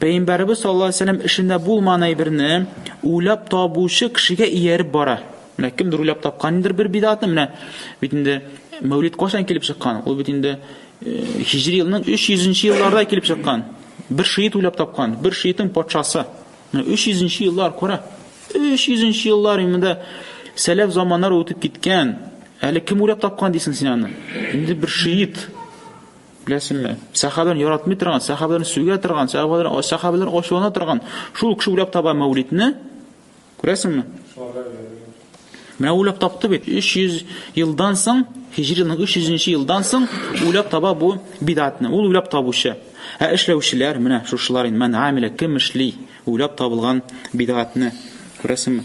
Пәйгамбәребез саллаллаһу алейһи вәсәлләм эшендә булмаган әйберне уйлап табучы кешегә ияреп бара. Менә кемдер уйлап тапкан индер бер бидатны, менә бит инде Мәүлид кайчан килеп чыккан? Ул бит инде Хиҗри елның 300-нче елларда килеп чыккан. Бер шиит уйлап тапкан, бер шиитнең патшасы. Менә 300-нче еллар күрә. 300-нче еллар инде сәләф заманнар үтеп киткән. Әле кем уйлап тапкан дисең син аны? Инде бер шиит. Беләсеңме? Сәхабәләрне яратмый торган, сәхабәләрне сүгә торган, сәхабәләрне сәхабәләр ачулана торган шул кеше уйлап таба Мәүлидне. Күрәсеңме? Менә уйлап тапты бит. 300 елдан соң, Хиҗри елның 300 елдан соң уйлап таба бу бидатны. Ул уйлап табучы. Ә эшләүчеләр менә шушылар инде. Мән амилә кем эшли? Уйлап табылган бидатны. Күрәсеңме?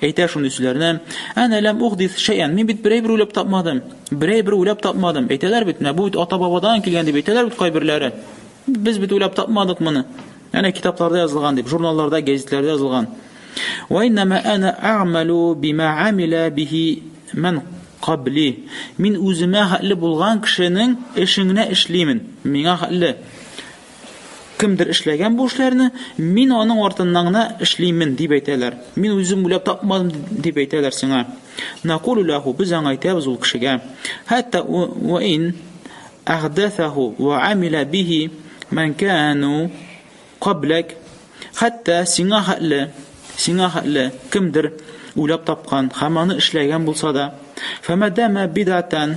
Әйтә шундый сүзләрне, Әнә ләм ухдис шәйән, мин бит берәй бер уйлап тапмадым. Берәй бер уйлап тапмадым. Әйтәләр бит, менә бу бит ата-бабадан килгән дип әйтәләр бит кайберләре. Без бит уйлап тапмадык моны. Әнә китапларда язылган дип, журналларда, гәзитләрдә язылган. Ва иннама ана а'малу бима амила бихи ман кабли. Мин үземә хәтле булган кешенең эшеңне эшлимен. Миңа хәтле. Кемдер эшләгән бу эшләрне, мин аның артыннан гына эшлимен дип әйтәләр. Мин үзем уйлап тапмадым дип әйтәләр сиңа. Накулу лаху без аңа әйтәбез ул кешегә. Хәтта ва ин әхдәсәху ва амила бихи ман кану каблак. Хәтта сиңа хәтле, сиңа хәтле кемдер уйлап тапкан һәм аны эшләгән булса да, фәмәдәмә бидатан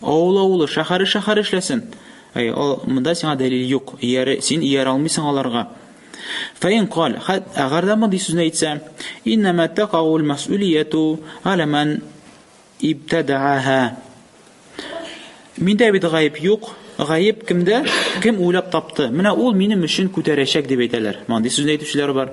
Авыл авылы, шәхәре шәхәр эшләсен! Әй, ал, монда сиңа дәлил юк, ияре, син ияр алмыйсың аларга. Фәин каль, хәт, әгәр дә мондый сүзне әйтсә, иннәмә тәкаул мәсүлияту галә мән ибтәдәәһә. Миндә бит гаеп юк, гаеп кемдә, кем уйлап тапты, менә ул минем өчен күтәрәчәк, дип әйтәләр. Мондый сүзне әйтүчеләр бар.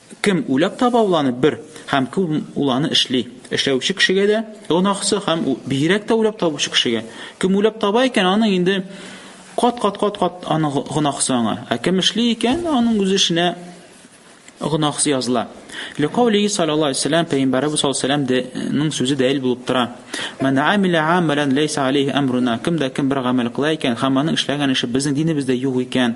Кем уйлап таба ул аны бер һәм кем ул аны эшли? Эшләүче кешегә дә гөнаһысы һәм бигрәк тә уйлап табучы кешегә. Кем уйлап таба икән, аның инде кат-кат-кат-кат аның гөнаһысы аңа. Ә кем эшли икән, аның үз эшенә гынаһысы языла. Ликаулиһи саллаллаһу алейхи вассалам пәйгамбәребез саллаллаһу алейхи вассаламның сүзе дәлил булып тора. Ман амила амалан лейса алейхи амруна. Кем дә кем бер гамәл кыла икән, һәм аның эшләгән эше безнең динебездә юк икән,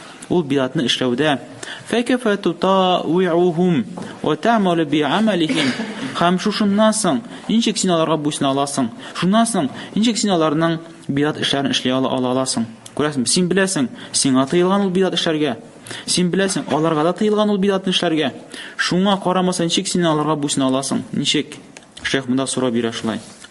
Ул биатны эшләүдә фәкәфә тутауиухум ва тәмәле би амәлихим һәм шушыннан соң ничек син аларга буйсына аласың? Шуннан соң ничек син аларның биат эшләрен эшли ала аласың? Күрәсең, син беләсең, сиңа тыелган ул биат эшләргә. Син беләсең, аларга да тыелган ул биатны эшләргә. Шуңа карамаса ничек син аларга буйсына аласың? Ничек? Шәйх монда сорау бирә шулай.